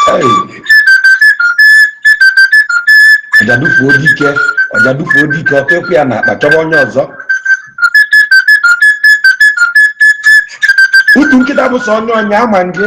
Hey. ọjadufuo dike ọjadufuo dike ọkụ ekwe ya na akpa chọba onye ọzọ utu nkịta bụ sọ onye ọnya ama gị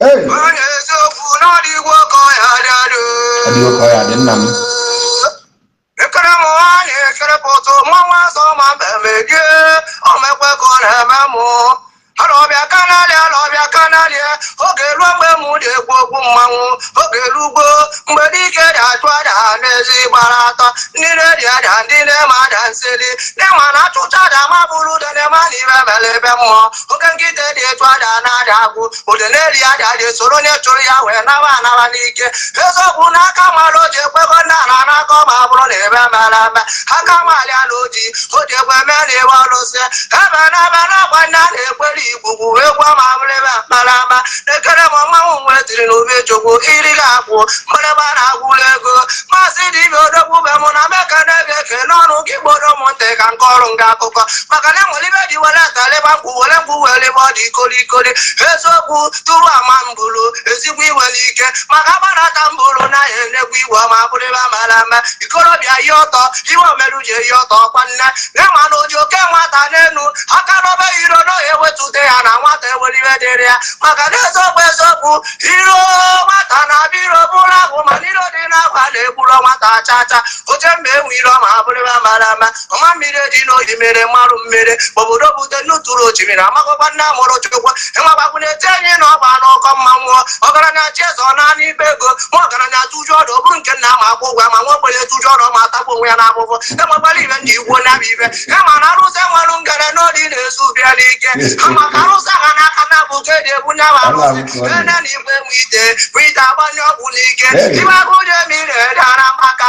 Hey! Onye eziokwu na ọ dịgwo ka ọ ya dị adị. Ọ dịgwo ka ọ ya dị, nna m. Ekere m nwaanyị ekere pụtụ mmanwụ azọ ma mmemme die ọ mekwe ka ọ na-eme mụ alọbịa kanalị alọbịa kanalị oge ruo mgbe m na-ekwu okwu mmanwụ oge rugbo mgbe dike ji achụ aja n'ezi gbara atọ ndị na-eri aja ndị na-eme aja nseli ndị ma na achụcha aja ma afụrọ udene ama na ihe mere ebe mmụọ oke nkịta dị etu ada na-ada agwụ udene na-eri aja aja esoro onye chụrụ ya wee nawa anawa n'ike eziokwu na aka mara oji ekwego ndị a na-anakọ ma ọ bụrụ na ebe mara eme aka mali ala oji oji ekwe mee na iwe ọlụsị ebe na ebe na-agba ndị a na-ekwere igbugbu egwu ọma bụrụ ebe mara ama na-ekere m mmanwụ nwe tiri na obi chukwu iri ga-akwụ mgbịrịgba na-agwụla ego maazị dị ibe odogwu be mụ na meka na-ebe eke n'ọnụ gị gboro ụmụntị ka nke ọrụ nga akụkọ maka na enwere ibe ji were atalịba mkpụ were mgbu were ebe ọ dị ikori ikori eziokwu tụrụ ama mbụrụ ezigbo iwe n'ike maka gbara aka mbụrụ na ya enegwu iwe ọma bụrịba mara ama ikorobịa yi ọtọ ihe o meru ji eyi ọtọ ọkwa nne na ma na oji oke nwata n'elu aka n'obe iro na ọ ya ewetute ya na nwata ewere ihe dịrị ya maka na eziokwu eziokwu iro nwata na abịa iro bụrụ ahụ mana iro dị n'akwa na-egburo nwata acha acha oche mma enwe iro ma abụrịba mara ama ọma mmiri dị n'oyi mere mmarụ mmiri obodo bute nnutụrụ osimiri amaghọkwa nne amụrụ chukwu ịmagbakwụ na-eti anyị na ọgba n'ụkọ mmanwụ ọgaranya chie eze ọ naanị ibe ego ma ọgaranya tụju ọdụ ọ bụrụ nke nna ma akwụ ụgwọ ma nwa ogbenye tụju ọdụ ma atagbu onwe ya n'afụfụ enwekwala ibe ndị igbo na-abịa ibe ha ma na arụsị enwere ngara n'oli na-ezu bịa n'ike ha maka arụsị ha n'aka na bụ ka eji ebu nya ma arụsị ene na igwe nwe ite bụ ite agbanye ọgwụ n'ike ibe agụ onye mmiri edara maka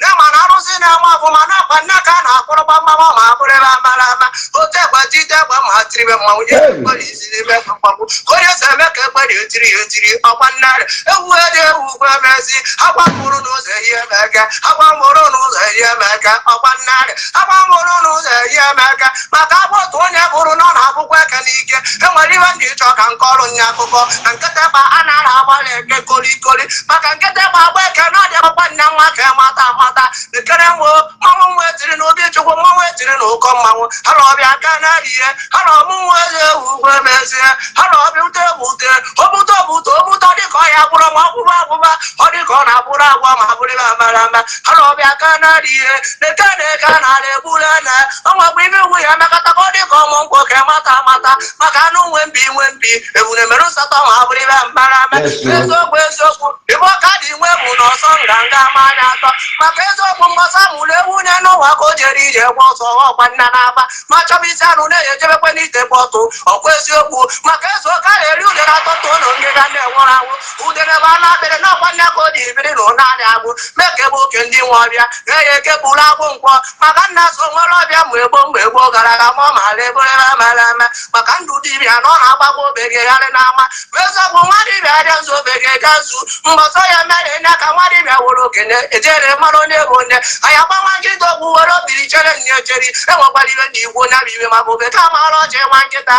na ma na arụsị na-ama ọfụma na-akwa nna ka a na-akpọrọ gbamgbam ọ ma abụrụ ebe amara ama oti ịgba tite ịgba ma tiribe mmanwụ nye Hey. mgbere isi n'ime egbe mgbagbu ka onye si eme ka egbere etiri ya etiri ọkwa nnarị ewu ede ewu ugwu emezi agwa mụrụ n'ụzọ eyi emeka agwa mụrụ n'ụzọ eyi emeka ọkwa nnarị agwa mụrụ n'ụzọ eyi emeka maka agwọ otu onye hụrụ na ọ na-abụkwa eke n'ike e nwere ihe ndị ịchọ ka nke ọrụ nye akụkọ na nkịtịkpa a na-ara agbalị eke kolikoli maka nkịtịkpa agba eke na ọdị agbakwa nne nwa ka mata amata ekere nwo mmanwụ nwa etiri na obi chukwu mmanwụ etiri na ụkọ mmanwụ ha na ọbịa aka na-arihe ha na ọmụ nwa eze ewu ugwe mezie ha na ọbịa ute ebute obute obute obute ọ dịka ọ ya agbụrụ ma ọ gwụba agwụba ọ dịka ọ na-agbụrụ agwa ma bụrịba amarama ha na ọbịa ka na-arị ihe na eke na eke a na-arị egburu na ọnwakwa ime iwu ya emekọta ka ọ dị ka ọmụ nkwụ ka mata mata maka anụ nwe mpi nwe mpi ebune mere nsatọ ma abụrụ ibe mbara ame Yes, sir. eziokwu eziokwu ibe ọka dị nwe bụ na ọsọ nganga ma anya atọ maka eziokwu mgbasa mụrụ ewu nye n'ụwa ka o jere ije gwa ọsọ ọkwa nna na-aba ma chọba isi anụ na-eji ejebekwe n'ite bọtụ ọkwa eziokwu maka ezu ọka na-eri udere atọ tụọ na ngịga na-enwụrụ anwụ udere bụ anụ akpịrị na ọkwa nne ka o ji biri na ụnanị agbụ mee ka ebe oke ndị nwe ọbịa ga ya eke bụrụ agbụ nkwọ maka nna so nwere ọbịa mgbe gboo mgbe gboo gara aga ma ọ maara eberebe mara eme maka ndụ dibịa na ọ na-agbagbo obegegharị n'ama ma eziokwu nwa dibịa abịa nzu obege ga nzu mbọsọ ya mere enye ka nwa dibịa were okenye ejere mara onye bụ onye anyị agbanwa nkịta okwu were obiri chere nne echeri enwekwara iwe ndị igbo nya bụ iwe maka obe ka maara ọchị nwa nkịta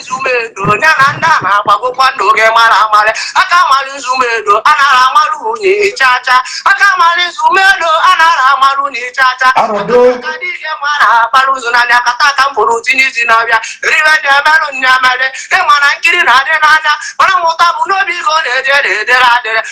nzu medo nya na ndị a na-agbagokwa ndụ oge mara amarị aka amarị nzu medo a nara amarụ unyi chacha aka amarị nzu medo a nara amarụ unyi chacha Arọdo. aka dị ihe mara akpara ụzọ n'anya kata aka m pụrụ tinye isi n'ọbịa ribe dị emerụ nya emere ịma na nkiri na-adị n'anya mana mmụta bụ n'obi ka ọ na-eje na-edere adịrị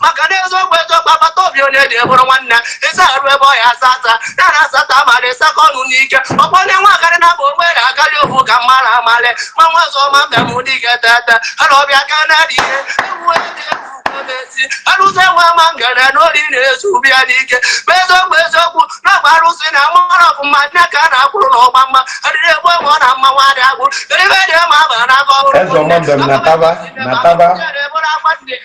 maka na eziokwu eziokwu agbata obi onye dị bụrụ nwanne ịsa arụ ebe ọ ya asa asa ya na asata abalị ịsakọ ọnụ n'ike ọkpọ onye nwa akarị na bụ ogbe na akarị ofu ka mmadụ amalị ma nwa ọzọ ma mbịa m dị ga etete ha na ọbịa ka na dị ihe ewu ebe ewu ezi arụsị enwe ama ngana n'ori na-ezu ubi ya n'ike ma eziokwu eziokwu na-agba arụsị na mara ọfụma nne ka a na-akwụrụ na ọgba mma adịrị egbu egbe ọ na mma nwa dị agwụ eribe dị ma aba na aka ọhụrụ Eze ọma mbem na taba, na taba.